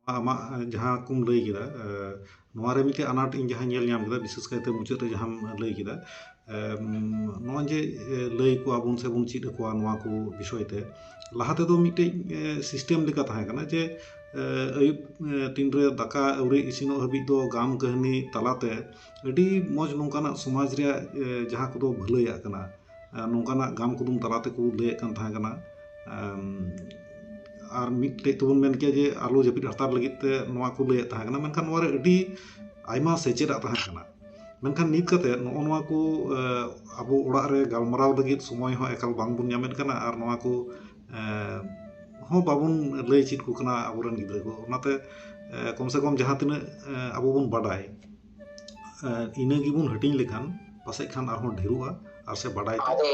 ᱟᱢᱟᱜ ᱡᱟᱦᱟᱸ ᱠᱚᱢ ᱞᱟᱹᱭ ᱠᱮᱫᱟ ᱱᱚᱣᱟ ᱨᱮ ᱢᱤᱫᱴᱮᱱ ᱟᱱᱟᱴ ᱤᱧ ᱡᱟᱦᱟᱸᱧ ᱧᱮᱞ ᱧᱟᱢ ᱠᱮᱫᱟ ᱵᱤᱥᱮᱥ ᱠᱟᱭᱛᱮ ᱢᱩᱪᱟᱹᱫ ᱨᱮ ᱡᱟᱦᱟᱸᱢ ᱞᱟᱹᱭ ᱠᱮᱫᱟ ᱱᱚᱜᱼᱚᱭ ᱡᱮ ᱞᱟᱹᱭ ᱟᱠᱚᱣᱟ ᱵᱚᱱ ᱥᱮ ᱵᱚᱱ ᱪᱮᱫ ᱟᱠᱚᱣᱟ ᱱᱚᱣᱟ ᱠᱚ ᱵᱤᱥᱚᱭ ᱛᱮ ᱞᱟᱦᱟ ᱛᱮᱫᱚ ᱢᱤᱫᱴᱮᱱ ᱥᱤᱥᱴᱮᱢ ᱞᱮᱠᱟ ᱛᱟᱦᱮᱸ ᱠᱟᱱᱟ ᱡᱮ ᱟᱹᱭᱩᱵ ᱛᱤᱱ ᱨᱮ ᱫᱟᱠᱟ ᱟᱹᱣᱨᱤ ᱤᱥᱤᱱᱚᱜ ᱦᱟᱹᱵᱤᱡ ᱫᱚ ᱜᱟᱢ ᱠᱟᱹᱦᱱᱤ ᱛᱟᱞᱟᱛᱮ ᱟᱹᱰᱤ ᱢᱚᱡᱽ ᱱᱚᱝᱠᱟᱱᱟᱜ ᱥᱚᱢᱟᱡᱽ ᱨᱮᱭᱟᱜ ᱡᱟᱦᱟᱸ ᱠᱚᱫᱚ ᱵᱷᱟᱹᱞᱟᱹᱭᱟᱜ ᱠᱟᱱᱟ ᱱᱚᱝᱠᱟᱱᱟᱜ ᱜᱟᱢ ᱠᱩᱫᱩᱢ ᱛᱟᱞᱟ ᱛᱮᱠᱚ ᱞᱟᱹᱭᱮᱫ ᱠᱟᱱ ᱛᱟᱦᱮᱸ ᱠᱟᱱᱟ ᱟᱨ ᱢᱤᱫᱴᱮᱡ ᱛᱮᱵᱚᱱ ᱢᱮᱱ ᱠᱮᱭᱟ ᱡᱮ ᱟᱞᱚ ᱡᱟᱹᱯᱤᱫ ᱦᱟᱛᱟᱲ ᱞᱟᱹᱜᱤᱫ ᱛᱮ ᱱᱚᱣᱟ ᱠᱚ ᱞᱟᱹᱭᱮᱫ ᱛᱟᱦᱮᱸ ᱠᱟᱱᱟ ᱢᱮᱱᱠᱷᱟᱱ ᱱᱚᱣᱟ ᱨᱮ ᱟᱹᱰᱤ ᱟᱭᱢᱟ ᱥᱮᱪᱮᱫᱟᱜ ᱛᱟᱦᱮᱸ ᱠᱟᱱᱟ ᱢᱮᱱᱠᱷᱟᱱ ᱱᱤᱛ ᱠᱟᱛᱮ ᱱᱚᱜᱼᱚ ᱱᱚᱣᱟ ᱠᱚ ᱟᱵᱚ ᱚᱲᱟᱜ ᱨᱮ ᱜᱟᱞᱢᱟᱨᱟᱣ ᱞᱟᱹᱜᱤᱫ ᱥᱚᱢᱚᱭ ᱦᱚᱸ ᱮᱠᱟᱞ ᱵᱟᱝ ᱵᱚᱱ ᱧᱟᱢᱮᱫ ᱠᱟᱱᱟ ᱟᱨ ᱱᱚᱣᱟ ᱠᱚ ᱦᱚᱸ ᱵᱟᱵᱚᱱ ᱞᱟᱹᱭ ᱪᱮᱫ ᱟᱠᱚ ᱠᱟᱱᱟ ᱟᱵᱚᱨᱮᱱ ᱜᱤᱫᱽᱨᱟᱹ ᱠᱚ ᱚᱱᱟᱛᱮ ᱠᱚᱢ ᱥᱮ ᱠᱚᱢ ᱡᱟᱦᱟᱸ ᱛᱤᱱᱟᱹᱜ ᱟᱵᱚ ᱵᱚᱱ ᱵᱟᱰᱟᱭ ᱤᱱᱟᱹ ᱜᱮᱵᱚᱱ ᱦᱟᱹᱴᱤᱧ ᱞᱮᱠᱷᱟᱱ ᱯᱟᱥᱮᱡ ᱠᱷᱟᱱ ᱟᱨᱦᱚᱸ ᱰᱷᱮᱨᱚᱜᱼᱟ ᱟᱨ ᱥᱮ ᱵᱟᱰᱟᱭ ᱛᱮ ᱟᱫᱚ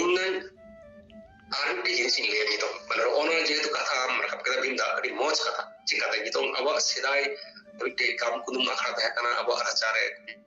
ᱤᱧ ᱫᱚ ᱟᱨ ᱢᱤᱫᱴᱮᱱ ᱡᱤᱱᱤᱥ ᱤᱧ ᱞᱟᱹᱭᱟ ᱱᱤᱛᱚᱜ ᱢᱟᱱᱮ ᱱᱚᱜᱼᱚ ᱱᱚᱣᱟ ᱡᱮᱦᱮᱛᱩ ᱠᱟᱛᱷᱟ ᱟᱢ ᱨᱟᱠᱟᱵ ᱠᱮᱫᱟ ᱵᱤᱱᱫᱟ ᱟᱹᱰᱤ ᱢᱚᱡᱽ ᱠᱟᱛᱷᱟ ᱪᱤᱠᱟᱛᱮ ᱱᱤᱛᱚᱝ ᱟᱵᱚᱣᱟᱜ ᱥᱮᱫᱟᱭ ᱢᱤᱫᱴᱮᱡ ᱠᱟᱢ ᱠᱩᱫᱩᱢ ᱟᱠᱷᱲᱟ ᱛᱟᱦᱮᱸ ᱠᱟᱱᱟ ᱟᱵᱚᱣᱟᱜ ᱨᱟᱪᱟᱨᱮ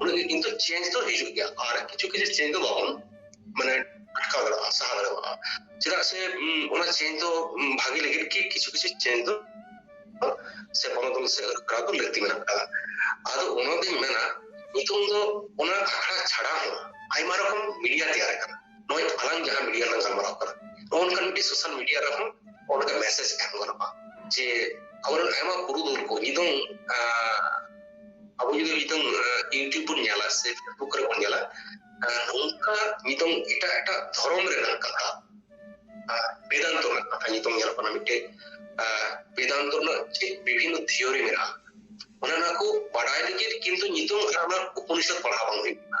ᱩᱱᱟᱹᱜ ᱜᱮ ᱠᱤᱱᱛᱩ ᱪᱮᱧᱡᱽ ᱫᱚ ᱦᱤᱡᱩᱜ ᱜᱮᱭᱟ ᱟᱨ ᱠᱤᱪᱷᱩ ᱠᱤᱪᱷᱩ ᱪᱮᱧᱡᱽ ᱫᱚ ᱵᱟᱵᱚᱱ ᱢᱟᱱᱮ ᱟᱴᱠᱟᱣ ᱫᱟᱲᱮᱭᱟᱜᱼᱟ ᱥᱟᱦᱟ ᱫᱟᱲᱮᱭᱟᱜᱼᱟ ᱪᱮᱫᱟᱜ ᱥᱮ ᱚᱱᱟ ᱪᱮᱧᱡᱽ ᱫᱚ ᱵᱷᱟᱜᱮ ᱞᱟᱹᱜᱤᱫ ᱜᱮ ᱠᱤᱪᱷᱩ ᱠᱤᱪᱷᱩ ᱪᱮᱧᱡᱽ ᱫᱚ ᱥᱮ ᱵᱚᱱᱚᱫᱚᱞ ᱥᱮ ᱟᱹᱨᱩᱯᱷᱮᱨᱟᱣ ᱫᱚ ᱞᱟᱹᱠᱛᱤ ᱢᱮᱱᱟᱜ ᱟᱠᱟᱫᱟ ᱟᱫᱚ ᱚᱱᱟᱜᱤᱧ ᱢᱮᱱᱟ ᱱᱤᱛᱚᱝ ᱫᱚ ᱚᱱᱟ ᱟᱠᱷᱲᱟ ᱪᱷᱟᱲᱟ ᱦᱚᱸ ᱟᱭᱢᱟ ᱨᱚᱠᱚᱢ ᱢᱤᱰᱤᱭᱟ ᱛᱮᱭᱟᱨ ᱟᱠᱟᱱᱟ ᱱᱚᱜᱼᱚᱭ ᱟᱞᱟᱝ ᱡᱟᱦᱟᱸ ᱢᱤᱰᱤᱭᱟ ᱞᱟᱝ ᱜᱟᱞᱢᱟᱨᱟᱣ ᱠᱟᱱᱟ ᱱᱚᱜᱼᱚ ᱱᱚᱝᱠᱟᱱ ᱢᱤᱫᱴᱤᱡ ᱥᱳᱥᱟᱞ ᱢᱤᱰᱤᱭᱟ ᱨᱮᱦᱚᱸ ᱚᱱᱠᱟ ᱢᱮᱥᱮᱡᱽ ᱮᱢ ᱜᱟᱱᱚᱜᱼᱟ ᱡᱮ ᱟᱵᱚᱨᱮᱱ ᱟᱭᱢᱟ ᱯᱩᱨᱩᱫᱷᱩᱞ ᱠᱚ ᱱᱤᱛᱚᱝ ᱟᱵᱚ ᱡᱩᱫᱤ ᱱᱤᱛᱚᱝ ᱤᱭᱩᱴᱤᱭᱩᱵᱽ ᱵᱚᱱ ᱧᱮᱞᱟ ᱥᱮ ᱯᱷᱮᱥᱵᱩᱠ ᱨᱮᱵᱚᱱ ᱧᱮᱞᱟ ᱱᱚᱝᱠᱟ ᱱᱤᱛᱚᱝ ᱮᱴᱟᱜ ᱮᱴᱟᱜ ᱫᱷᱚᱨᱚᱢ ᱨᱮᱱᱟᱜ ᱠᱟᱛᱷᱟ ᱵᱮᱫᱟᱱᱛᱚ ᱨᱮᱱᱟᱜ ᱠᱟᱛᱷᱟ ᱱᱤᱛᱚᱝ ᱧᱮᱞᱚᱜ ᱠᱟᱱᱟ ᱢᱤᱫᱴᱮᱡ ᱵᱮᱫᱟᱱᱛᱚ ᱨᱮᱱᱟᱜ ᱪᱮᱫ ᱵᱤᱵᱷᱤᱱᱱᱚ ᱛᱷᱤᱭᱳᱨᱤ ᱢᱮᱱᱟᱜᱼᱟ ᱚᱱᱟ ᱱᱚᱣᱟ ᱠᱚ ᱵᱟᱰᱟᱭ ᱞᱟᱹᱜᱤᱫ ᱠᱤᱱᱛᱩ ᱧᱩᱛᱩᱢ ᱟᱨ ᱚᱱᱟ ᱩᱯᱚᱱᱤᱥᱚᱫ ᱯᱟᱲᱦᱟᱣ ᱵᱟᱝ ᱦᱩᱭᱩᱜ ᱠᱟᱱᱟ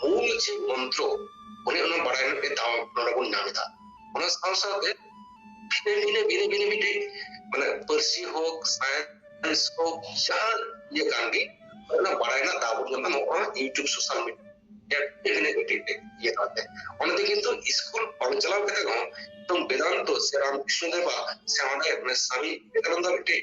ᱢᱩᱞ ᱡᱮ ᱢᱚᱱᱛᱨᱚ ᱚᱱᱮ ᱚᱱᱟ ᱵᱟᱲᱟᱭ ᱨᱮᱱᱟᱜ ᱢᱤᱫ ᱫᱟᱣ ᱱᱚᱰᱮ ᱵᱚᱱ ᱧᱟᱢ ᱮᱫᱟ ᱚᱱᱟ ᱥᱟᱶ ᱥᱟᱶᱛᱮ ᱵᱷᱤᱱᱟᱹ ᱵᱷᱤᱱᱟᱹ ᱵᱷᱤᱱᱟᱹ ᱵᱷᱤᱱᱟᱹ ᱢᱤᱫᱴᱮᱡ ᱢᱟᱱᱮ ᱯᱟᱹᱨᱥᱤ ᱦᱳᱠ ᱥᱟᱭᱮᱱᱥ ᱦᱳᱠ ᱡᱟᱦᱟᱸ ᱤᱭᱟᱹ ᱠᱟᱱ ᱜᱮ ᱚᱱᱟ ᱵᱟᱲᱟᱭ ᱨᱮᱱᱟᱜ ᱫᱟᱣ ᱵᱚᱱ ᱧᱟᱢᱟ ᱱᱚᱜᱼᱚ ᱱᱚᱣᱟ ᱤᱭᱩᱴᱩᱵᱽ ᱥᱳᱥᱟᱞ ᱢᱤᱰᱤᱭᱟ ᱵᱷᱤᱱᱟᱹ ᱢᱤᱫᱴᱮᱡ ᱤᱭᱟᱹ ᱠᱟᱛᱮ ᱚᱱᱟᱛᱮ ᱠᱤᱱᱛᱩ ᱥᱠᱩᱞ ᱵᱟᱝ ᱪᱟᱞᱟᱣ ᱠᱟᱛᱮ ᱦᱚᱸ ᱮᱠᱫᱚᱢ ᱵᱮᱫᱟᱱᱛᱚ ᱥᱮ ᱨᱟᱢᱠᱨᱤᱥᱱᱚ ᱫᱮᱵᱟᱜ ᱥᱮ ᱚᱸᱰᱮ ᱥᱟᱢᱤ ᱵᱮᱫᱟᱱᱛᱚ ᱢᱤᱫᱴᱮᱡ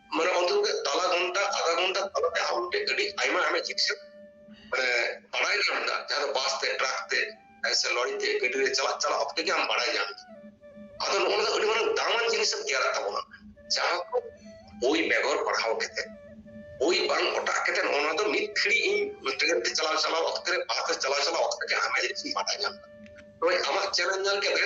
ᱢᱟᱱᱮ ᱚᱱᱛᱮ ᱠᱚᱜᱮ ᱛᱟᱞᱟ ᱜᱷᱚᱱᱴᱟ ᱟᱫᱷᱟ ᱜᱷᱚᱱᱴᱟ ᱛᱟᱞᱟᱛᱮ ᱟᱢ ᱢᱤᱫᱴᱮᱡ ᱟᱹᱰᱤ ᱟᱭᱢᱟ ᱟᱭᱢᱟ ᱡᱤᱱᱤᱥ ᱢᱟᱱᱮ ᱵᱟᱲᱟᱭ ᱧᱟᱢ ᱮᱫᱟ ᱡᱟᱦᱟᱸ ᱫᱚ ᱵᱟᱥ ᱛᱮ ᱴᱨᱟᱠ ᱛᱮ ᱥᱮ ᱞᱚᱨᱤ ᱛᱮ ᱜᱟᱹᱰᱤ ᱨᱮ ᱪᱟᱞᱟᱜ ᱪᱟᱞᱟᱜ ᱚᱠᱛᱮ ᱜᱮ ᱟᱢ ᱵᱟᱲᱟᱭ ᱧᱟᱢ ᱮᱫᱟ ᱟᱫᱚ ᱱᱚᱜᱼᱚ ᱱᱚᱣᱟ ᱟᱹᱰᱤ ᱢᱟᱨᱟᱝ ᱫᱟᱢᱟᱱ ᱡᱤᱱᱤᱥ ᱮᱢ ᱛᱮᱭᱟᱨᱟᱜ ᱛᱟᱵᱚᱱᱟ ᱡᱟᱦᱟᱸ ᱠᱚ ᱵᱳᱭ ᱵᱮᱜᱚᱨ ᱯᱟᱲᱦᱟᱣ ᱠᱟᱛᱮ ᱵᱳᱭ ᱵᱟᱝ ᱚᱴᱟᱜ ᱠᱟᱛᱮ ᱱᱚᱜᱼᱚ ᱱᱚᱣᱟ ᱫᱚ ᱢᱤᱫ ᱜᱷᱟᱹᱲᱤ ᱤᱧ ᱴᱨᱮᱱ ᱛᱮ ᱪᱟᱞᱟᱣ ᱪᱟᱞᱟᱣ ᱚᱠᱛᱮ ᱨᱮ ᱵᱟᱥ ᱛᱮ ᱪᱟᱞᱟᱣ ᱪᱟᱞᱟᱣ ᱚᱠᱛᱮ ᱜᱮ ᱟᱭᱢᱟ ᱡᱤᱱᱤᱥ ᱤᱧ ᱵᱟᱰᱟᱭ ᱧᱟᱢ ᱮᱫᱟ ᱛᱚᱵᱮ ᱟᱢᱟᱜ ᱪᱮᱱᱮᱞ ᱧᱮᱞ ᱠᱟᱛᱮ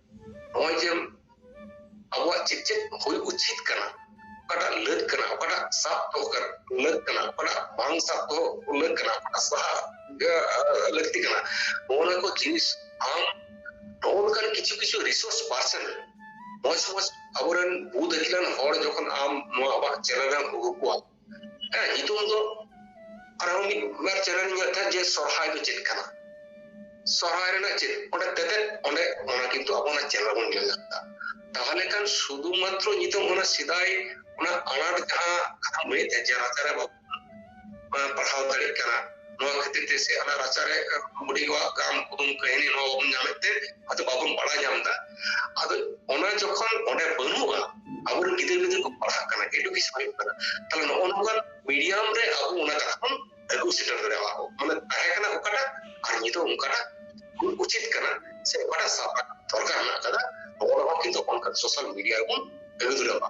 ᱱᱚᱜᱼᱚᱭ ᱡᱮ ᱟᱵᱚᱣᱟᱜ ᱪᱮᱫ ᱪᱮᱫ ᱦᱩᱭ ᱩᱪᱤᱛ ᱠᱟᱱᱟ ᱚᱠᱟᱴᱟᱜ ᱞᱟᱹᱠ ᱠᱟᱱᱟ ᱚᱠᱟᱴᱟᱜ ᱥᱟᱵ ᱫᱚᱦᱚ ᱠᱟᱱᱟ ᱞᱟᱹᱠ ᱠᱟᱱᱟ ᱚᱠᱟᱴᱟᱜ ᱵᱟᱝ ᱥᱟᱵ ᱫᱚᱦᱚ ᱞᱟᱹᱠ ᱠᱟᱱᱟ ᱚᱠᱟᱴᱟᱜ ᱥᱟᱦᱟ ᱞᱟᱹᱠᱛᱤ ᱠᱟᱱᱟ ᱱᱚᱜᱼᱚ ᱠᱚ ᱡᱤᱱᱤᱥ ᱟᱢ ᱱᱚᱜᱼᱚ ᱱᱚᱝᱠᱟᱱ ᱠᱤᱪᱷᱩ ᱠᱤᱪᱷᱩ ᱨᱤᱥᱳᱨᱥ ᱯᱟᱨᱥᱮᱱ ᱢᱚᱡᱽ ᱢᱚᱡᱽ ᱟᱵᱚᱨᱮᱱ ᱵᱩᱫ ᱟᱹᱠᱤᱞᱟᱱ ᱦᱚᱲ ᱡᱚᱠᱷᱚᱱ ᱟᱢ ᱱᱚᱣᱟ ᱟᱢᱟᱜ ᱪᱮᱱᱮᱞ ᱨᱮᱢ ᱟᱹᱜᱩ ᱠᱚᱣᱟ ᱦᱮᱸ ᱧᱩᱛᱩᱢ ᱫᱚ ᱟᱨᱦᱚᱸ ᱢᱤᱫ ᱵᱟᱨ ᱪᱮᱱᱮᱞ ᱧᱮᱞ ᱛᱟᱦᱮᱸᱫ ᱡᱮ ᱥᱚᱨᱦᱟᱭ ᱫᱚ ᱪᱮᱫ ᱠᱟᱱᱟ ᱥᱚᱨᱦᱟᱭ ᱨᱮᱱᱟᱜ ᱪᱮᱫ ᱚᱸᱰᱮ ᱛᱮᱛᱮᱫ ᱚᱸᱰᱮ ᱚᱱᱟ ᱠᱤᱱᱛᱩ ᱟᱵᱚᱱᱟᱜ ᱪᱮᱱᱮᱞ ᱵᱚᱱ ᱧᱮᱞ ᱧᱟᱢ ᱮᱫᱟ ᱛᱟᱦᱚᱞᱮ ᱠᱷᱟᱱ ᱥᱩᱫᱷᱩ ᱢᱟᱛᱨᱚ ᱧᱤᱛᱚᱜ ᱚᱱᱟ ᱥᱮᱫᱟᱭ ᱚᱱᱟ ᱟᱱᱟᱴ ᱡᱟᱦᱟᱸ ᱠᱟᱛᱷᱟᱢ ᱞᱟᱹᱭᱮᱫ ᱛᱟᱦᱮᱸᱫ ᱡᱮ ᱨᱟᱪᱟᱨᱮ ᱵᱟᱵᱚᱱ ᱯᱟᱲᱦᱟᱣ ᱫᱟᱲᱮᱭᱟᱜ ᱠᱟᱱᱟ ᱱᱚᱣᱟ ᱠᱷᱟᱹᱛᱤᱨ ᱛᱮ ᱥᱮ ᱟᱞᱮ ᱨᱟᱪᱟᱨᱮ ᱵᱩᱰᱤ ᱠᱚᱣᱟᱜ ᱜᱟᱢ ᱠᱩᱫᱩᱢ ᱠᱟᱹᱦᱱᱤ ᱱᱚᱣᱟ ᱵᱟᱵᱚᱱ ᱧᱟᱢᱮᱫ ᱛᱮ ᱟᱫᱚ ᱵᱟᱵᱚᱱ ᱵᱟᱲᱟᱭ ᱧᱟᱢ ᱮᱫᱟ ᱟᱫᱚ ᱚᱱᱟ ᱡᱚᱠᱷᱚᱱ ᱚᱸᱰᱮ ᱵᱟᱹᱱᱩᱜᱼᱟ ᱟᱵᱚᱨᱮᱱ ᱜᱤᱫᱟᱹᱨ ᱯᱤᱫᱟᱹᱨ ᱠᱚ ᱯᱟᱲᱦᱟᱜ ᱠᱟᱱᱟ ᱮᱰᱩᱠᱮᱥᱚᱱ ᱦᱩᱭᱩᱜ ᱠᱟᱱᱟ ᱛᱟᱦᱞᱮ ᱱᱚᱜᱼᱚ ᱱᱚᱝᱠᱟᱱ ᱢᱤᱰᱤᱭᱟᱢ ᱨᱮ ᱟᱵᱚ ᱚᱱᱟ ᱠᱟᱛᱷᱟ ᱵᱚᱱ ᱟᱹᱜᱩ ᱥᱮᱴᱮᱨ ᱫᱟᱲᱮᱭᱟᱜᱼᱟ ᱠᱚ ᱢᱟᱱᱮ ᱛᱟᱦᱮᱸ ᱠᱟᱱᱟ ᱚᱠᱟᱴᱟᱜ ᱟᱨ ᱱᱤᱛᱚᱜ ᱚᱱᱠᱟᱴᱟᱜ ᱩᱪᱤᱛ ᱠᱟᱱᱟ ᱥᱮ ᱚᱠᱟᱴᱟᱜ ᱥᱟᱵ ᱫᱚᱨᱠᱟᱨ ᱢᱮᱱᱟᱜ ᱠᱟᱫᱟ ᱱᱚᱜᱼᱚ ᱱᱚᱣᱟ ᱠᱤᱱᱛᱩ ᱚᱱᱠᱟ ᱥᱳᱥᱟᱞ ᱢᱤᱰᱤᱭᱟ ᱨᱮᱵᱚᱱ ᱟᱹᱜᱩ ᱫᱟᱲᱮᱭᱟᱜᱼᱟ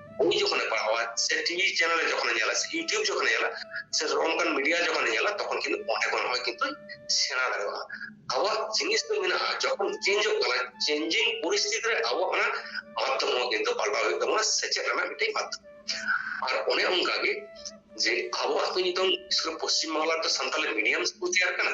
ᱩᱱᱤ ᱡᱚᱠᱷᱚᱱᱮ ᱯᱟᱲᱦᱟᱣᱟ ᱥᱮ ᱴᱤᱵᱷᱤ ᱪᱮᱱᱮᱞ ᱨᱮ ᱡᱚᱠᱷᱚᱱᱮ ᱧᱮᱞᱟ ᱥᱮ ᱤᱭᱩᱴᱤᱭᱩᱵᱽ ᱡᱚᱠᱷᱚᱱᱮ ᱧᱮᱞᱟ ᱥᱮ ᱚᱱᱠᱟᱱ ᱢᱤᱰᱤᱭᱟ ᱡᱚᱠᱷᱚᱱᱮ ᱧᱮᱞᱟ ᱛᱚᱠᱷᱚᱱ ᱠᱤᱱᱛᱩ ᱚᱸᱰᱮ ᱠᱷᱚᱱ ᱦᱚᱸ ᱠᱤᱱᱛᱩ ᱥᱮᱬᱟ ᱫᱟᱲᱮᱭᱟᱜᱼᱟ ᱟᱵᱚᱣᱟᱜ ᱡᱤᱱᱤᱥ ᱫᱚ ᱢᱮᱱᱟᱜᱼᱟ ᱡᱚᱠᱷᱚᱱ ᱪᱮᱧᱡᱚᱜ ᱠᱟᱱᱟ ᱪᱮᱧᱡᱤᱝ ᱯᱚᱨᱤᱥᱛᱷᱤᱛᱤ ᱨᱮ ᱟᱵᱚ ᱚᱱᱟ ᱢᱟᱫᱽᱫᱷᱚᱢ ᱦᱚᱸ ᱠᱤᱱᱛᱩ ᱯᱟᱞᱴᱟᱣ ᱦᱩᱭᱩᱜ ᱛᱟᱵᱚᱱᱟ ᱥᱮᱪᱮᱫ ᱨᱮᱱᱟᱜ ᱢᱤᱫᱴᱮᱱ ᱢᱟᱫᱽᱫᱷᱚᱢ ᱟᱨ ᱚᱱᱮ ᱚᱱᱠᱟᱜᱮ ᱡᱮ ᱟᱵᱚᱣᱟᱜ ᱫᱚ ᱱᱤᱛᱚᱝ ᱯᱚᱥᱪᱤᱢ ᱵᱟᱝᱞᱟ ᱨᱮᱫᱚ ᱥᱟᱱᱛᱟᱞᱤ ᱢᱤᱰᱤᱭᱟᱢ ᱥᱠᱩᱞ ᱛᱮᱭᱟᱨ ᱠᱟᱱᱟ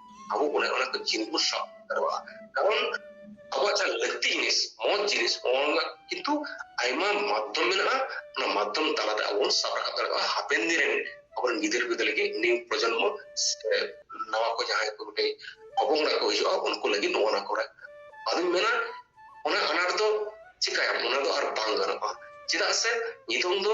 ᱟᱵᱚ ᱚᱱᱮ ᱚᱱᱟ ᱠᱚ ᱪᱤᱱ ᱵᱚ ᱥᱟᱵ ᱫᱟᱲᱮᱭᱟᱜᱼᱟ ᱠᱟᱨᱚᱱ ᱟᱵᱚᱣᱟᱜ ᱡᱟᱦᱟᱸ ᱞᱟᱹᱠᱛᱤ ᱡᱤᱱᱤᱥ ᱢᱚᱡᱽ ᱡᱤᱱᱤᱥ ᱚᱱᱟ ᱠᱤᱱᱛᱩ ᱟᱭᱢᱟ ᱢᱟᱫᱽᱫᱷᱚᱢ ᱢᱮᱱᱟᱜᱼᱟ ᱚᱱᱟ ᱢᱟᱫᱽᱫᱷᱚᱢ ᱛᱟᱞᱟᱛᱮ ᱟᱵᱚ ᱵᱚᱱ ᱥᱟᱵ ᱨᱟᱠᱟᱵ ᱫᱟᱲᱮᱭᱟᱜᱼᱟ ᱦᱟᱯᱮᱱ ᱫᱤᱱ ᱨᱮᱱ ᱟᱵᱚᱨᱮᱱ ᱜᱤᱫᱟᱹᱨ ᱯᱤᱫᱟᱹᱨ ᱞᱟᱹᱜᱤᱫ ᱱᱤᱭᱩ ᱯᱨᱚᱡᱚᱱᱢᱚ ᱱᱟᱣᱟ ᱠᱚ ᱡᱟᱦᱟᱸᱭ ᱠᱚ ᱢᱤᱫᱴᱮᱡ ᱚᱵᱚᱝᱲᱟ ᱠᱚ ᱦᱤᱡᱩᱜᱼᱟ ᱩᱱᱠᱩ ᱞᱟᱹᱜᱤᱫ ᱱᱚᱣᱟ ᱱᱟ ᱠᱚᱨᱮ ᱟᱫᱚᱧ ᱢᱮᱱᱟ ᱚᱱᱟ ᱟᱱᱟᱴ ᱫᱚ ᱪᱤᱠᱟᱭᱟᱢ ᱚᱱᱟ ᱫᱚ ᱟᱨ ᱵᱟᱝ ᱜᱟᱱᱚᱜᱼᱟ ᱪᱮᱫᱟᱜ ᱥᱮ ᱱᱤᱛᱚᱝ ᱫᱚ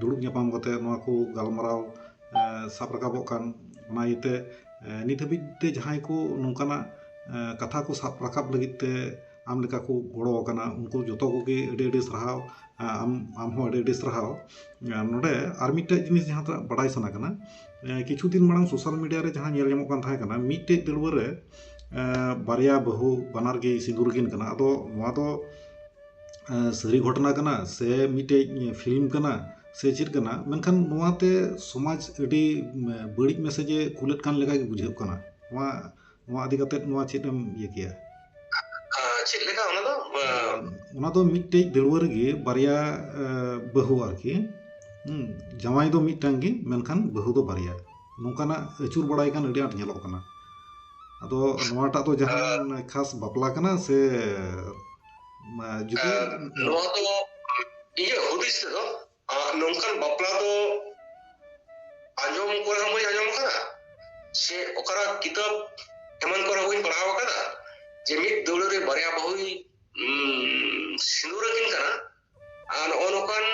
ᱫᱩᱲᱩᱵ ᱧᱟᱯᱟᱢ ᱠᱟᱛᱮᱫ ᱱᱚᱣᱟ ᱠᱚ ᱜᱟᱞᱢᱟᱨᱟᱣ ᱥᱟᱵ ᱨᱟᱠᱟᱵᱚᱜ ᱠᱟᱱ ᱚᱱᱟ ᱤᱭᱟᱹᱛᱮ ᱱᱤᱛ ᱦᱟᱹᱵᱤᱡ ᱛᱮ ᱡᱟᱦᱟᱸᱭ ᱠᱚ ᱱᱚᱝᱠᱟᱱᱟᱜ ᱠᱟᱛᱷᱟ ᱠᱚ ᱥᱟᱵ ᱨᱟᱠᱟᱵ ᱞᱟᱹᱜᱤᱫ ᱛᱮ ᱟᱢ ᱞᱮᱠᱟ ᱠᱚ ᱜᱚᱲᱚ ᱟᱠᱟᱱᱟ ᱩᱱᱠᱩ ᱡᱚᱛᱚ ᱠᱚᱜᱮ ᱟᱹᱰᱤ ᱟᱹᱰᱤ ᱥᱟᱨᱦᱟᱣ ᱟᱢ ᱟᱢ ᱦᱚᱸ ᱟᱹᱰᱤ ᱟᱹᱰᱤ ᱥᱟᱨᱦᱟᱣ ᱱᱚᱰᱮ ᱟᱨ ᱢᱤᱫᱴᱮᱡ ᱡᱤᱱᱤᱥ ᱡᱟᱦᱟᱸ ᱴᱟᱜ ᱵᱟᱰᱟᱭ ᱥᱟᱱᱟ ᱠᱟᱱᱟ ᱠᱤᱪᱷᱩ ᱫᱤᱱ ᱢᱟᱲᱟᱝ ᱥᱳᱥᱟᱞ ᱢᱤᱰᱤᱭᱟ ᱨᱮ ᱡᱟᱦᱟᱸ ᱧᱮᱞ ᱧᱟᱢᱚᱜ ᱠᱟᱱ ᱛᱟᱦᱮᱸ ᱠᱟᱱᱟ ᱢᱤᱫᱴᱮᱡ ᱫᱟᱹᱣᱲᱟᱹ ᱨᱮ ᱵᱟᱨᱭᱟ ᱵᱟᱹᱦᱩ ᱵᱟᱱᱟᱨ ᱜᱮᱭ ᱥᱤᱸᱫᱩᱨ ᱟᱹᱠᱤᱱ ᱠᱟᱱᱟ ᱟᱫᱚ ᱱᱚᱣᱟ ᱫᱚ ᱥᱟᱹᱨᱤ ᱜᱷᱚᱴᱚᱱᱟ ᱠᱟᱱᱟ ᱥᱮ ᱢᱤᱫᱴᱮᱡ ᱯᱷᱤᱞᱢ ᱠᱟᱱᱟ ᱥᱮ ᱪᱮᱫ ᱠᱟᱱᱟ ᱢᱮᱱᱠᱷᱟᱱ ᱱᱚᱣᱟᱛᱮ ᱥᱚᱢᱟᱡᱽ ᱟᱹᱰᱤ ᱵᱟᱹᱲᱤᱡ ᱢᱮᱥᱮᱡᱽ ᱮ ᱠᱩᱞᱮᱫ ᱠᱟᱱ ᱞᱮᱠᱟ ᱜᱮ ᱵᱩᱡᱷᱟᱹᱜ ᱠᱟᱱᱟ ᱱᱚᱣᱟ ᱱᱚᱣᱟ ᱤᱫᱤ ᱠᱟᱛᱮ ᱱᱚᱣᱟ ᱪᱮᱫ ᱮᱢ ᱤᱭᱟᱹ ᱠᱮᱭᱟ ᱪᱮᱫ ᱞᱮᱠᱟ ᱚᱱᱟ ᱫᱚ ᱚᱱᱟ ᱫᱚ ᱢᱤᱫᱴᱮᱡ ᱫᱟᱹᱲᱣᱟᱹ ᱨᱮᱜᱮ ᱵᱟᱨᱭᱟ ᱵᱟᱹᱦᱩ ᱟᱨᱠᱤ ᱡᱟᱶᱟᱭ ᱫᱚ ᱢᱤᱫᱴᱟᱝ ᱜᱮ ᱢᱮᱱᱠᱷᱟᱱ ᱵᱟᱹᱦᱩ ᱫᱚ ᱵᱟᱨᱭᱟ ᱱᱚᱝᱠᱟᱱᱟᱜ ᱟᱹᱪᱩᱨ ᱵᱟᱲᱟᱭ ᱠᱟᱱ ᱟᱹᱰᱤ ᱟᱸᱴ ᱧᱮᱞᱚᱜ ᱠᱟᱱᱟ ᱟᱫᱚ ᱱᱚᱣᱟᱴᱟᱜ ᱫᱚ ᱡᱟᱦᱟᱸ ᱠᱷᱟᱥ ᱵᱟᱯᱞᱟ ᱠᱟᱱᱟ ᱥᱮ ᱱᱚᱣᱟ ᱫᱚ ᱤᱧᱟᱹᱜ ᱦᱩᱫᱤᱥ ᱛᱮᱫᱚ ᱱᱚᱝᱠᱟᱱ ᱵᱟᱯᱞᱟ ᱫᱚ ᱟᱸᱡᱚᱢ ᱠᱚᱨᱮ ᱦᱚᱸ ᱵᱟᱹᱧ ᱟᱸᱡᱚᱢ ᱟᱠᱟᱫᱟ ᱥᱮ ᱚᱠᱟᱨᱟᱜ ᱠᱤᱛᱟᱹᱵ ᱮᱢᱟᱱ ᱠᱚᱨᱮ ᱦᱚᱸ ᱵᱟᱹᱧ ᱯᱟᱲᱦᱟᱣ ᱟᱠᱟᱫᱟ ᱡᱮ ᱢᱤᱫ ᱫᱟᱹᱣᱲᱟᱹ ᱨᱮ ᱵᱟᱨᱭᱟ ᱵᱟᱹᱦᱩᱭ ᱥᱤᱸᱫᱩᱨ ᱟᱹᱠᱤᱱ ᱠᱟᱱᱟ ᱟᱨ ᱱᱚᱜᱼᱚ ᱱᱚᱝᱠᱟᱱ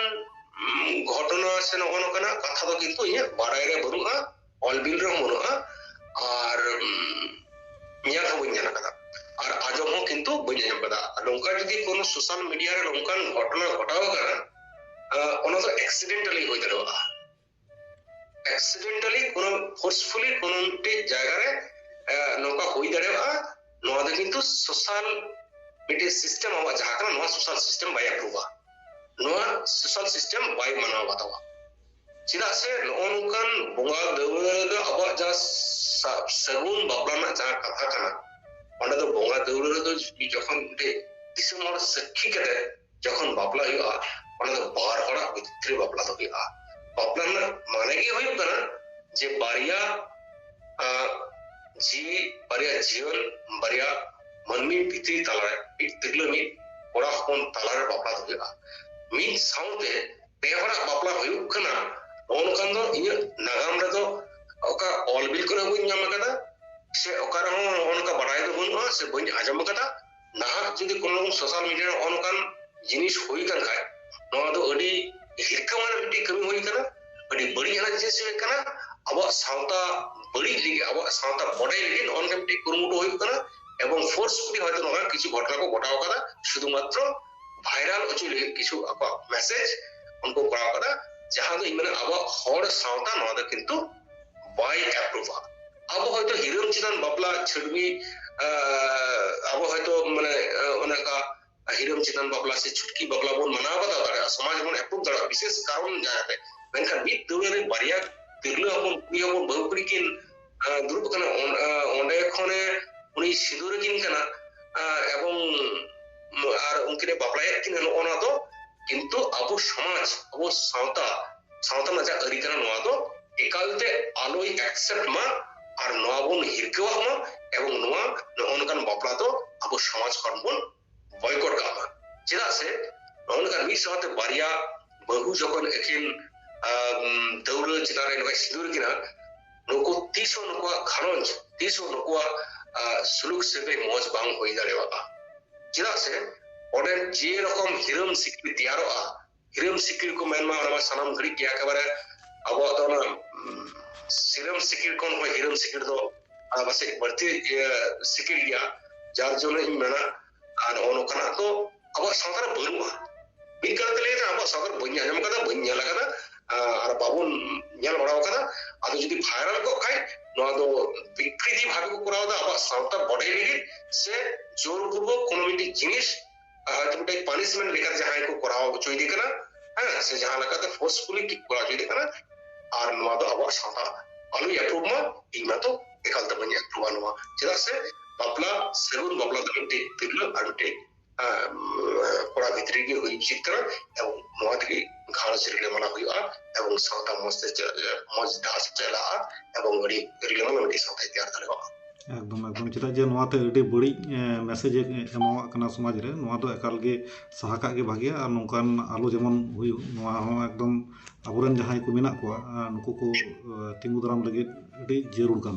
ᱜᱷᱚᱴᱚᱱᱟ ᱥᱮ ᱱᱚᱜᱼᱚ ᱱᱚᱝᱠᱟᱱᱟᱜ ᱠᱟᱛᱷᱟ ᱫᱚ ᱠᱤᱱᱛᱩ ᱤᱧᱟᱹᱜ ᱵᱟᱲᱟᱭ ᱨᱮ ᱵᱟᱹᱱᱩᱜᱼᱟ ᱚᱞ ᱵᱤᱞ ᱨᱮᱦᱚᱸ ᱵᱟᱹᱱᱩᱜᱼᱟ ᱟᱨ ᱧᱮᱞ ᱦᱚᱸ ᱵᱟᱹᱧ ᱧᱮᱞ ᱟᱠᱟᱫᱟ ᱟᱨ ᱟᱸᱡᱚᱢ ᱦᱚᱸ ᱠᱤᱱᱛᱩ ᱵᱟᱹᱧ ᱟᱸᱡᱚᱢ ᱟᱠᱟᱫᱟ ᱱᱚᱝᱠᱟ ᱡᱩᱫᱤ ᱠᱳᱱᱳ ᱥᱳᱥᱟᱞ ᱢᱤᱰᱤᱭᱟ ᱨᱮ ᱱᱚᱝᱠᱟᱱ ᱜᱷᱚᱴᱚᱱᱟ ᱜᱷᱚᱴᱟᱣ ᱟᱠᱟᱱᱟ ᱚᱱᱟ ᱫᱚ ᱮᱠᱥᱤᱰᱮᱱᱴᱟᱞᱤ ᱦᱩᱭ ᱫᱟᱲᱮᱭᱟᱜᱼᱟ ᱮᱠᱥᱤᱰᱮᱱᱴᱟᱞᱤ ᱠᱳᱱᱳ ᱯᱷᱳᱨᱥᱯᱷᱩᱞᱤ ᱠᱳᱱᱳ ᱢᱤᱫᱴᱮᱡ ᱡᱟᱭᱜᱟ ᱨᱮ ᱱᱚᱝᱠᱟ ᱦᱩᱭ ᱫᱟᱲᱮᱭᱟᱜᱼᱟ ᱱᱚᱣᱟ ᱫᱚ ᱠᱤᱱᱛᱩ ᱥᱳᱥᱟᱞ ᱢᱤᱫᱴᱮᱡ ᱥᱤᱥᱴᱮᱢ ᱟᱵᱚᱣᱟᱜ ᱡᱟᱦᱟᱸ ᱠᱟᱱᱟ ᱱᱚᱣᱟ ᱥᱳᱥᱟᱞ ᱥᱤᱥᱴᱮᱢ ᱵᱟᱭ ᱟᱯᱨᱩᱵᱟ ᱱᱚᱣᱟ ᱥᱳᱥᱟᱞ ᱥᱤᱥᱴᱮᱢ ᱵᱟᱭ ᱢᱟᱱᱟᱣ ᱵᱟᱛᱟᱣᱟ ᱪᱮᱫᱟᱜ ᱥᱮ ᱱᱚᱜᱼᱚ ᱱᱚᱝᱠᱟᱱ ᱵᱚᱸᱜᱟ ᱫᱟᱹᱣᱲᱟᱹ ᱫᱚ ᱟᱵᱚᱣᱟᱜ ᱡᱟᱦᱟᱸ ᱥᱟᱹᱜᱩᱱ ᱵᱟᱯᱞᱟ ᱨᱮᱱᱟᱜ ᱡᱟᱦᱟᱸ ᱠᱟᱛᱷᱟ ᱠᱟᱱᱟ ᱚᱸᱰᱮ ᱫᱚ ᱵᱚᱸᱜᱟ ᱫᱟᱹᱣᱲᱟᱹ ᱨᱮᱫᱚ ᱡᱚᱠᱷᱚᱱ ᱢᱤᱫᱴᱮᱡ ᱫᱤᱥᱚᱢ ᱦᱚᱲ ᱥᱟᱹᱠᱷᱤ ᱠᱟᱛᱮ ᱡᱚᱠᱷᱚᱱ ᱵᱟᱯᱞᱟ ᱦᱩᱭᱩᱜᱼᱟ ᱚᱱᱟ ᱫᱚ ᱵᱟᱨ ᱦᱚᱲᱟᱜ ᱵᱷᱤᱛᱨᱤ ᱵᱟᱯᱞᱟ ᱫᱚ ᱦᱩᱭᱩᱜᱼᱟ ᱵᱟᱯᱞᱟ ᱨᱮᱱᱟᱜ ᱢᱟᱱᱮ ᱜᱮ ᱦᱩᱭᱩᱜ ᱠᱟᱱᱟ ᱡᱮ ᱵᱟᱨᱭᱟ ᱡᱤᱣᱤ ᱵᱟᱨᱭᱟ ᱡᱤᱭᱚᱱ ᱵᱟᱨᱭᱟ ᱢᱟᱹᱱᱢᱤ ᱵᱷᱤᱛᱨᱤ ᱛᱟᱞᱟᱨᱮ ᱢᱤᱫ ᱛᱤᱨᱞᱟᱹ ᱢᱤᱫ ᱠᱚᱲᱟ ᱦᱚᱯᱚᱱ ᱛᱟᱞᱟᱨᱮ ᱵᱟᱯᱞᱟ ᱫᱚ ᱦᱩᱭᱩᱜᱼᱟ ᱢᱤᱫ ᱥᱟᱶᱛᱮ ᱯᱮ ᱦᱚᱲᱟᱜ ᱵᱟᱯᱞᱟ ᱦᱩᱭᱩᱜ ᱠᱟᱱᱟ ᱚᱱᱠᱟᱱ ᱫᱚ ᱤᱧᱟᱹᱜ ᱱᱟᱜᱟᱢ ᱨᱮᱫᱚ ᱚᱠᱟ ᱚᱞ ᱵᱤᱞ ᱠᱚᱨᱮ ᱵᱟᱹᱧ ᱧᱟᱢ ᱟᱠᱟᱫᱟ ᱥᱮ ᱚᱠᱟ ᱨᱮᱦᱚᱸ ᱚᱱᱠᱟ ᱵᱟᱲᱟᱭ ᱫᱚ ᱵᱟᱹᱱᱩᱜᱼᱟ ᱥᱮ ᱵᱟᱹᱧ ᱟᱸᱡᱚᱢ ᱟᱠᱟᱫᱟ ᱱᱟᱦᱟᱜ ᱡᱩᱫᱤ ᱠᱳᱱᱳ ᱨᱚᱠᱚᱢ ᱥᱳᱥᱟᱞ ᱢᱤᱰᱤᱭᱟ ᱨᱮ ᱚᱱᱠᱟᱱ ᱡᱤᱱᱤᱥ ᱦᱩᱭ ᱠᱟᱱ ᱠᱷᱟᱡ ᱱᱚᱣᱟ ᱫᱚ ᱟᱹᱰᱤ ᱦᱤᱨᱠᱟᱹ ᱢᱟᱱᱮ ᱢᱤᱫᱴᱤᱡ ᱠᱟᱹᱢᱤ ᱦᱩᱭ ᱠᱟᱱᱟ ᱟᱹᱰᱤ ᱵᱟᱹᱲᱤᱡ ᱟᱱᱟᱜ ᱡᱤᱱᱤᱥ ᱦᱩᱭ ᱠᱟᱱᱟ ᱟᱵᱚᱣᱟᱜ ᱥᱟᱶᱛᱟ ᱵᱟᱹᱲᱤᱡ ᱞᱟᱹᱜᱤᱫ ᱟᱵᱚᱣᱟᱜ ᱥᱟᱶᱛᱟ ᱵᱚᱰᱟᱭ ᱞᱟᱹᱜᱤᱫ ᱱᱚᱜᱼᱚ ᱱᱚᱝᱠᱟ ᱢᱤᱫᱴᱤᱡ ᱠᱩᱨᱩᱢᱩᱴᱩ ᱦᱩᱭᱩᱜ ᱠᱟᱱᱟ ᱮᱵᱚᱝ ᱯᱷᱳᱨᱥᱯᱷᱩᱞᱤ ᱦᱚᱭᱛᱳ ᱱᱚᱣᱟ ᱠᱤᱪᱷᱩ ᱜᱷᱚᱴᱚᱱᱟ ᱠᱚ ᱜᱷᱚᱴᱟᱣ ᱠᱟᱫᱟ ᱥᱩᱫᱷᱩ ᱢᱟᱛᱨᱚ ᱵᱷᱟᱭᱨᱟᱞ ᱦᱚᱪᱚ ᱞᱟᱹᱜᱤᱫ ᱠᱤᱪᱷᱩ ᱟᱠᱚᱣᱟᱜ ᱢᱮᱥᱮᱡᱽ ᱩᱱᱠᱩ ᱠᱚᱨᱟᱣ ᱠᱟᱫᱟ ᱡᱟᱦᱟᱸ ᱫᱚ ᱤᱧ ᱢᱮᱱᱟ ᱟᱵᱚᱣᱟᱜ ᱦᱚᱲ ᱥᱟᱶᱛᱟ ᱱᱚᱣᱟ ᱫᱚ ᱠᱤᱱᱛᱩ ᱵᱟᱭ ᱮᱯᱨᱩᱵᱷᱟ ᱟᱵᱚ ᱦᱚᱭᱛᱳ ᱦᱤᱨᱟᱹᱢ ᱪᱮᱛᱟᱱ ᱵᱟᱯᱞᱟ ᱪᱷᱟᱹᱰᱣᱤ ᱟᱵᱚ ᱦᱚᱭᱛᱳ ᱢᱟᱱᱮ ᱚᱱᱮ ᱚᱱᱠᱟ ᱦᱤᱨᱟᱹᱢ ᱪᱮᱛᱟᱱ ᱵᱟᱯᱞᱟ ᱥᱮ ᱪᱷᱩᱴᱠᱤ ᱵᱟᱯᱞᱟ ᱵᱚᱱ ᱢᱟᱱᱟᱣ ᱵᱟᱛᱟᱣ ᱫᱟᱲᱮᱭᱟᱜᱼᱟ ᱥᱚᱢᱟᱡᱽ ᱵᱚᱱ ᱮᱯᱨᱩᱵᱷ ᱫᱟᱲᱮᱭᱟᱜᱼᱟ ᱵᱤᱥᱮᱥ ᱠᱟᱨᱚᱱ ᱡᱟᱦᱟᱸᱛᱮ ᱢᱮᱱᱠᱷᱟᱱ ᱢᱤᱫ ᱫᱟᱹᱣᱲᱟᱹ ᱨᱮ ᱵᱟᱨᱭᱟ ᱛᱤᱨᱞᱟᱹ ᱦᱚᱯᱚᱱ ᱠᱩᱲᱤ ᱦᱚᱯᱚᱱ ᱵᱟᱹᱦᱩ ᱠᱩᱲᱤ ᱠᱤᱱ ᱫᱩᱲᱩᱵ ᱠᱟᱱᱟ ᱚᱸᱰᱮ ᱠᱷᱚᱱᱮ ᱩᱱᱤ ᱥᱤᱸᱫᱩᱨ ᱠᱤᱱ ᱠᱟᱱᱟ ᱮᱵᱚᱝ ᱟᱨ ᱩᱱᱠᱤᱱᱮ ᱵᱟᱯᱞᱟᱭᱮᱫ ᱠᱤᱱᱟ ᱱᱚᱜᱼᱚ ᱱᱚᱣᱟ ᱫᱚ ᱠᱤᱱᱛᱩ ᱟᱵᱚ ᱥᱚᱢᱟᱡᱽ ᱟᱵᱚ ᱥᱟᱶᱛᱟ ᱥᱟᱶᱛᱟ ᱨᱮᱱᱟᱜ ᱡᱟᱦᱟᱸ ᱟᱹᱨᱤ ᱠᱟᱱᱟ ᱱᱚᱣᱟ ᱫᱚ ᱮᱠᱟᱞᱛᱮ ᱟᱞᱚᱭ ᱮᱠᱥᱮᱯᱴ ᱢᱟ ᱟᱨ ᱱᱚᱣᱟ ᱵᱚᱱ ᱦᱤᱨᱠᱟᱹᱣᱟᱜ ᱢᱟ ᱮᱵᱚᱝ ᱱᱚᱣᱟ ᱱᱚᱜᱼᱚ ᱱᱚᱝᱠᱟᱱ ᱵᱟᱯᱞᱟ ᱫᱚ ᱟᱵᱚ ᱥᱚᱢᱟᱡᱽ ᱠᱷᱚᱱ ᱵᱚᱱ ᱵᱚᱭᱠᱚᱴ ᱠᱟᱜ ᱢᱟ ᱪᱮᱫᱟᱜ ᱥᱮ ᱱᱚᱜᱼᱚ ᱱᱚᱝᱠᱟ ᱢᱤᱫ ᱥᱟᱶᱛᱮ ᱵᱟᱨᱭᱟ ᱵᱟᱹᱦᱩ ᱡᱚᱠᱷᱚᱱ ᱟᱹᱠᱤᱱ ᱫᱟᱹᱣᱲᱟᱹ ᱪᱮᱛᱟᱱ ᱨᱮ ᱱᱚᱝᱠᱟᱭ ᱥᱤᱸᱫᱩᱨ ᱠᱤᱱᱟ ᱱᱩᱠᱩ ᱛᱤᱥ ᱦᱚᱸ ᱱᱩᱠᱩᱣᱟᱜ ᱜᱷᱟᱨᱚᱸᱡᱽ ᱛᱤᱥ ᱦᱚᱸ ᱱᱩᱠᱩᱣᱟᱜ ᱥᱩᱞᱩᱠ ᱥᱟᱹᱜᱟᱹᱭ ᱢᱚᱡᱽ ᱵᱟᱝ ᱦᱩᱭ ᱫᱟᱲᱮᱭᱟᱜᱼᱟ ᱪᱮᱫᱟᱜ ᱥᱮ ᱚᱸᱰᱮ ᱡᱮ ᱨᱚᱠᱚᱢ ᱦᱤᱨᱚᱢ ᱥᱤᱠᱲᱤ ᱛᱮᱭᱟᱨᱚᱜᱼᱟ ᱦᱤᱨᱟᱹᱢ ᱥᱤᱠᱤᱲ ᱠᱚ ᱢᱮᱱᱢᱟ ᱚᱱᱟ ᱢᱟ ᱥᱟᱱᱟᱢ ᱜᱷᱟᱹᱲᱤᱡ ᱜᱮ ᱮᱠᱮᱵᱟᱨᱮ ᱟᱵᱚᱣᱟᱜ ᱫᱚ ᱚᱱᱟ ᱥᱤᱨᱟᱹᱢ ᱥᱤᱠᱤᱲ ᱠᱷᱚᱱ ᱦᱚᱸ ᱦᱤᱨᱟᱹᱢ ᱥᱤᱠᱤᱲ ᱫᱚ ᱯᱟᱥᱮᱡ ᱵᱟᱹᱲᱛᱤ ᱥᱤᱠᱤᱲ ᱜᱮᱭᱟ ᱡᱟᱨ ᱡᱚᱱᱱᱚ ᱤᱧ ᱢᱮᱱᱟ ᱟᱨ ᱱᱚᱜᱼᱚ ᱱᱚᱝᱠᱟᱱᱟᱜ ᱫᱚ ᱟᱵᱚᱣᱟᱜ ᱥᱟᱶᱛᱟ ᱨᱮ ᱵᱟᱹᱱᱩᱜᱼᱟ ᱢᱤᱫ ᱠᱟᱛᱷᱟ ᱛᱮ ᱞᱟᱹᱭ ᱠᱟᱱᱟ ᱟᱵᱚᱣᱟᱜ ᱥᱟᱶᱛᱟ ᱨᱮ ᱵᱟᱹᱧ ᱟᱸᱡᱚᱢ ᱠᱟᱫᱟ ᱵᱟᱹᱧ ᱧᱮᱞ ᱠᱟᱫᱟ ᱟᱨ ᱵᱟᱵᱚᱱ ᱧᱮᱞ ᱵᱟᱲᱟ ᱠᱟᱫᱟ ᱟᱫᱚ ᱡᱩᱫᱤ ᱵᱷᱟᱭᱨᱟᱞ ᱠᱚᱜ ᱠᱷᱟᱡ ᱱᱚᱣᱟ ᱫᱚ ᱵᱤᱠᱨᱤᱛᱤ ᱵᱷᱟᱵᱮ ᱠᱚ ᱠᱚᱨᱟᱣ ᱫᱟ ᱟᱵᱚᱣᱟᱜ ᱥᱟᱶᱛᱟ ᱵᱚᱰᱮ ᱞᱟᱹᱜᱤᱫ ᱥᱮ ᱡᱳᱨ ᱯᱩᱨᱵᱚᱠ ᱠᱳᱱᱳ ᱢᱤᱫᱴᱤᱡ ᱡᱤᱱᱤᱥ ᱦᱚᱭᱛᱳ ᱢᱤᱫᱴᱮᱡ ᱯᱟᱱᱤᱥᱢᱮᱱᱴ ᱞᱮᱠᱟᱛᱮ ᱡᱟᱦᱟᱸᱭ ᱠᱚ ᱠᱚᱨᱟᱣ ᱦᱚᱪᱚᱭᱮᱫᱮ ᱠᱟᱱᱟ ᱦᱮᱸ ᱥᱮ ᱡᱟᱦᱟᱸ ᱞᱮᱠᱟᱛᱮ ᱯᱷᱳᱨᱥᱯᱷᱩᱞᱤ ᱠᱚᱨᱟᱣ ᱦᱚᱪᱚᱭᱮᱫᱮ ᱠᱟᱱᱟ ᱟᱨ ᱱᱚᱣᱟ ᱫᱚ ᱟᱵᱚᱣᱟᱜ ᱥᱟᱶᱛᱟ ᱟᱞᱚᱭ ᱮᱯᱨᱩᱵᱷ ᱢᱟ ᱤᱧ ᱢᱟᱛᱚ ᱮᱠᱟᱞ ᱛᱮ ᱵᱟᱹᱧ ᱮᱯᱨᱩᱵᱷᱟ ᱱᱚᱣᱟ ᱪᱮᱫᱟᱜ ᱥᱮ ᱵᱟᱯᱞᱟ ᱥᱟᱹᱜᱩᱱ ᱵᱟᱯᱞᱟ ᱫᱚ ᱢᱤᱫᱴᱮᱡ ᱛᱤᱨᱞᱟᱹ ᱟᱨ ᱢᱤᱫᱴᱮᱡ ᱠᱚᱲᱟ ᱵᱷᱤᱛᱨᱤ ᱜᱮ ᱦᱩᱭ ᱩᱪᱤᱛ ᱠᱟᱱᱟ ᱮᱵᱚᱝ ᱱᱚᱣᱟ ᱛᱮᱜᱮ ᱜᱷᱟᱨᱚᱸᱡᱽ ᱨᱤᱞᱟᱹᱢᱟᱞᱟ ᱦᱩᱭᱩᱜᱼᱟ ᱮᱵᱚᱝ ᱥᱟᱶᱛᱟ ᱢᱚᱡᱽ ᱛᱮ ᱢᱚᱡᱽ ᱰᱟᱦᱟᱨ ᱥᱮᱫ ᱪᱟᱞᱟᱜᱼᱟ ᱮᱵᱚᱝ ᱟᱹᱰᱤ ᱨᱤᱞᱟᱹᱢᱟᱞᱟ ᱢᱤᱫᱴᱮᱡ ᱥᱟᱶᱛᱟᱭ ᱛᱮᱭᱟᱨ ᱫᱟᱲᱮᱭᱟᱜᱼᱟ ᱮᱠᱫᱚᱢ ᱮᱠᱫᱚᱢ ᱪᱮᱫᱟᱜ ᱡᱮ ᱱᱚᱣᱟᱛᱮ ᱟᱹᱰᱤ ᱵᱟᱹᱲᱤᱡ ᱢᱮᱥᱮᱡᱽ ᱮ ᱮᱢᱟᱣᱟᱜ ᱠᱟᱱᱟ ᱥᱚᱢᱟᱡᱽ ᱨᱮ ᱱᱚᱣᱟ ᱫᱚ ᱮᱠᱟᱞ ᱜᱮ ᱥᱟᱦᱟ ᱠᱟᱜ ᱜᱮ ᱵᱷᱟᱜᱮᱭᱟ ᱟᱨ ᱱᱚᱝᱠᱟᱱ ᱟᱞᱚ ᱡᱮᱢᱚᱱ ᱦᱩᱭᱩᱜ ᱱᱚᱣᱟ ᱦᱚᱸ ᱮᱠᱫᱚᱢ ᱟᱵᱚᱨᱮᱱ ᱡᱟᱦᱟᱸᱭ ᱠᱚ ᱢᱮᱱᱟᱜ ᱠᱚᱣᱟ ᱱᱩᱠᱩ ᱠᱚ ᱛᱤᱸᱜᱩ ᱫᱟᱨᱟᱢ ᱞᱟᱹᱜᱤᱫ ᱟᱹᱰᱤ ᱡᱟᱹᱨᱩᱲ ᱠᱟᱱ ᱛᱟᱵᱚᱱᱟ